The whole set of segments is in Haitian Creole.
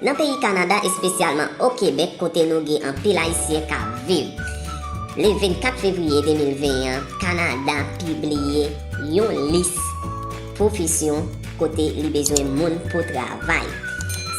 Nan peyi Kanada espesyalman o Kebèk kote nou gen anpil ayisyen k ap viv. Le 24 fevriye 2020 an Kanada pibliye yon lis pwofesyon kote li bezwen moun pou travay.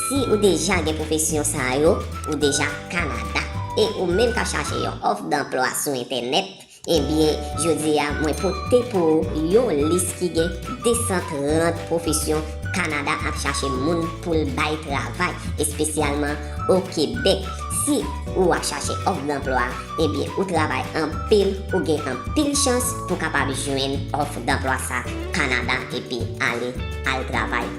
Si ou deja gen pwofesyon sa yo, ou deja Kanada. E ou menm k ap chache yon òf danplwa sou entènèt, Ebyen jodi a mwen pote pou ou yon lis ki gen 230 pwofesyon Kanada ap chache moun pou l bay travay, espesyalman o Kebèk. Si ou ap chache òf danplwa, ebyen ou travay anpil ou gen anpil chans pou kapab jwenn òf danplwa sa Kanada epi ale al travay.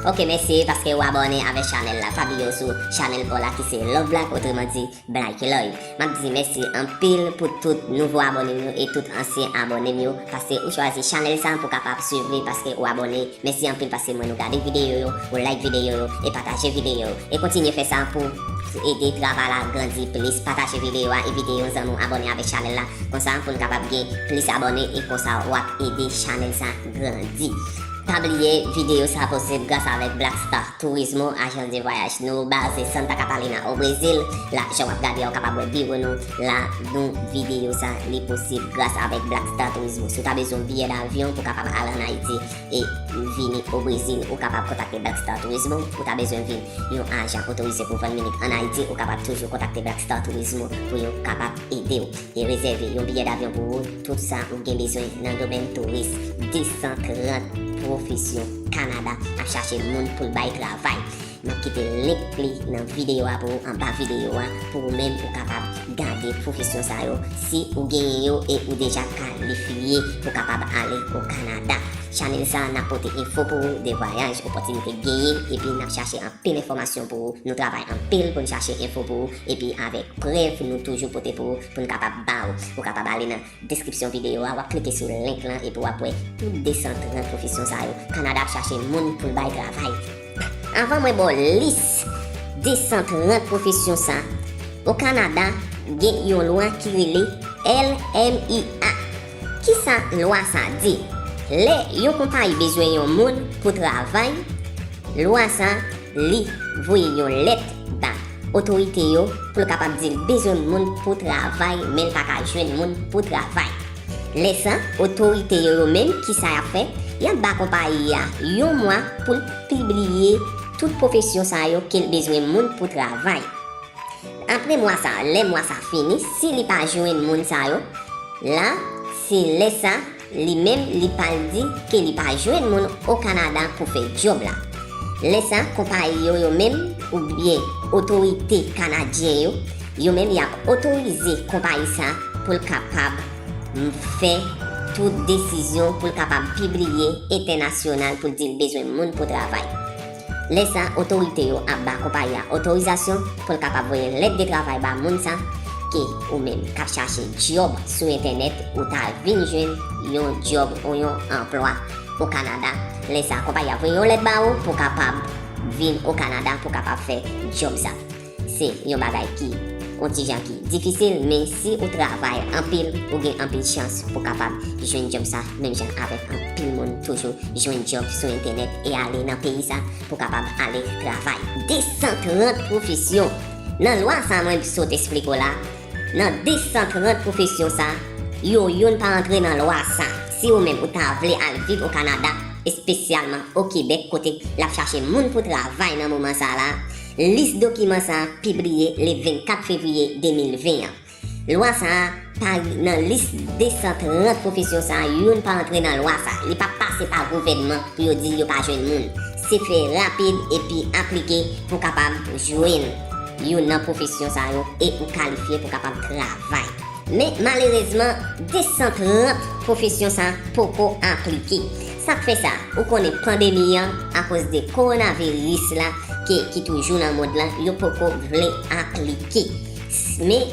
Ok mesi paske ou abone avè chanel la pa bliye ou sou chanel paw la ki se loveblak otreman di blakeloy map di mesi anpil pou tout nouvo abonem yo e tout ansyen abonem yo paske ou chwazi chanel sa pou kapab swiv li paske ou abone mesi anpil paske m wè nou gade video yo ou like video yo e pataje video yo e kontinye fè sa pou ede travay la grandi plis pataje video a envite yon zanmi w abone avè chanel la konsa poun kapab gen plis abone e konsa wap ede chanel sa. grandi. Pa bliye videyo sa posib gras avèk Black Star Turismo, ajan de vwayaj nou baze Santa Catalina o Brezil. La jan wap gade a ou kapab wè biwo nou la nou videyo sa li posib gras avèk Black Star Turismo. Si w ta bezwen biyè davyon pou kapab al an Ayiti e vini o Brezil ou kapab kontakte Black Star Turismo. Ou ta bezwen vin yon ajan otorize pou vann minit an Ayiti ou kapab toujou kontakte Black Star Turismo pou yo kapab ede w e rezève yon biyè davyon pou ou. Tout sa ou gen bezwen nan domèn touris, 230 pwofesyon Kanada ap chache moun pou l bay travay. M ap kite link li nan videyo a pou ou anba videyo a pou ou menm ou kapab gade pwofesyon sa yo si ou genyen yo e ou deja kalifye pou kapab ale o Kanada. Chanel sa nap pote enfo pou ou de vwayaj, opòtinite genyen epi nap chache anpil enfòmasyon pou ou. Nou travay anpil pou n chache enfo pou ou epi avèk prèv nou toujou pote pou ou. Pou n kapab ba w, ou kapab ale nan deskripsyon videyo a, w ap klike sou link lan epi w ap wè tout 230 pwofesyon sa yo. Kanada ap chache moun pou l bay travay. Anvan mwen ba w lis 230 pwofesyon sa, o Kanada gen yon lwa ki rele LMIA. Kisa lwa sa a di? Lè yon konpayi bezwen yon moun pou travay, lwa sa a li voye yon lèt ba otorite yo pou l kapab di l bezwen moun pou travay men l pa ka jwenn moun pou travay. Lè sa, otorite yo yo menm kisa y ap fè? Y ap ba konpayi a yon mwa pou l pibliye tout pwofesyon sa yo ke l bezwen moun pou travay. Apre mwa sa, lè mwa sa fini, si li pa jwenn moun sa yo, la, se lè sa, li menm, li pral di ke li pa jwenn moun o Kanada pou fè djòb la. Lè sa, konpayi yo, yo menm, oubyen otorite Kanadyen yo, yo menm y ap otorize konpayi sa pou l kapab fè tout desizyon pou l kapab pibliye entènasyonal pou l di l bezwen moun pou travay. Lè sa a, otorite yo ap ba konpayi a otorizasyon pou l kapab voye lèt de travay ba moun sa ke ou menm k ap chache dyòb sou entènèt ou ta vin jwenn yon dyòb ou yon anplwa o Kanada. Lè sa a, konpayi a voye yon lèt ba ou pou w kapab vin o Kanada pou w kapab fè dyòb sa. Se yon bagay ki yon ti jan ki difisil men si ou travay anpil ou gen anpil chans pou kapab jwenn djòb sa menm jan avèk anpil moun toujou jwenn djòb sou entènèt e ale nan peyi sa pou kapab ale travay. 230 pwofesyon, Nan lwa sa mwen sot esplike w la, nan 230 pwofesyon sa, yo youn pa antre nan lwa sa. Si ou menm ou ta vle al viv o Kanada, espesyalman o Kebèk kote l ap chache moun pou travay nan moman sa la, Lis dokiman sa a pibliye le 24 fevriye 2020 an. Lwa sa a pa nan lis 230 pwofesyon sa a youn pa antre nan lwa sa. Li pa pase pa gouvènman pou yo di yo pa jwenn moun. Se fè rapid epi aplike pou kapab jwenn youn nan pwofesyon sa yo e ou kalifye pou kapab travay. Men malerezman 230 pwofesyon sa poko aplike. Sak fè sa, ou konnen pandemi an akoz de kowonaviris la ke ki toujou nan mond lan yo poko vle aplike. Men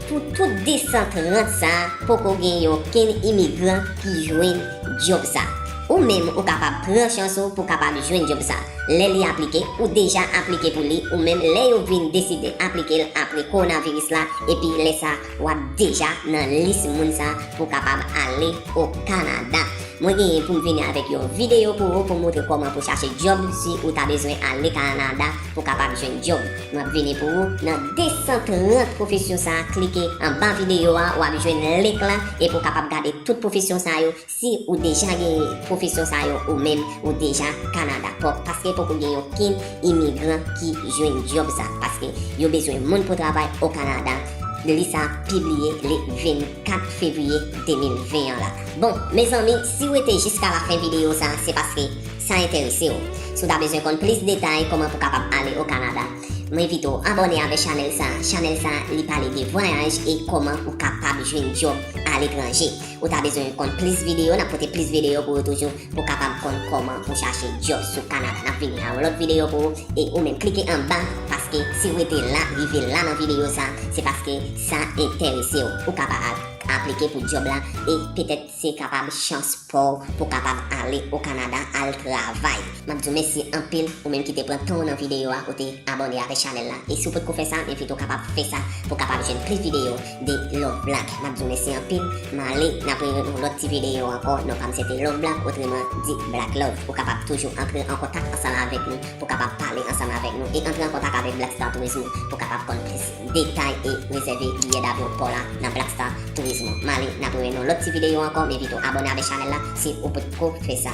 pou tout 230 sa poko gen yon kenn imigran ki jwenn djob sa. Ou menm ou kapab pran chans ou pou kapab jwenn djob sa. Lè li aplike, ou deja aplike pou li ou menm lè yo vin deside aplike l apre kowonaviris la epi lè sa Wap deja nan lis moun sa pou w kapab ale o Kanada. Mwen genyen pou m vini avèk yon videyo pou ou pou m moutre kòman pou chache djòb si ou ta bezwen ale Kanada pou kapab jwenn djòb. Mwen ap vini pou ou nan 230 pwofesyon sa klike anba videyo a wap jwenn link la epi w kapab gade tout pwofesyon sa yo. Si ou deja gen pwofesyon sa yo ou menm ou deja Canada pòk paske poko gen yon kin imigran ki jwenn dyob sa paske yo bezwen moun pou travay o Canada li sa pibliye le 24 fevriye 2020 an la bon mezanmi si ou rete jiska la fen video sa se paske sa enterese ou si ou ta bezwen konn plis detay koman pou kapab ale o Canada m envite ou abòne avè chanèl sa chanèl sa li pale de vwayaj e koman ou kapab jwenn dyob aletranje. Ou ta bezwen konn plis video nap pote plis video pou ou toujou pou kapab konn koman pou chache job sou Canada nap vini a yon lot video pou ou e ou menm klike anba paske siw rete la rive la nan video sa se paske sa enteresew ou kapab aplike pou job la e petet se kapab chans paw pou kapab ale o Canada al travay map diw mesi anpil ou menm kite pran tanw nan video a ou te abone avè chanel la e siw potko fè sa m envite ou kapab fesa pou kapab jwenn plis video. de love black map diw mesi anpil male nap re yon lot ti video anko non pam se te love black otreman di black love ou kapab toujou antre an kontak ansanm avek nou pou kapab pale ansanm avek nou e antre an kontak avek black star turismo pou kapab konn plis detay e rezeve biyè davyon paw la nan black star turismo male nap re yon lot ti video anko men pito abone avek chanel la si ou potko fesa.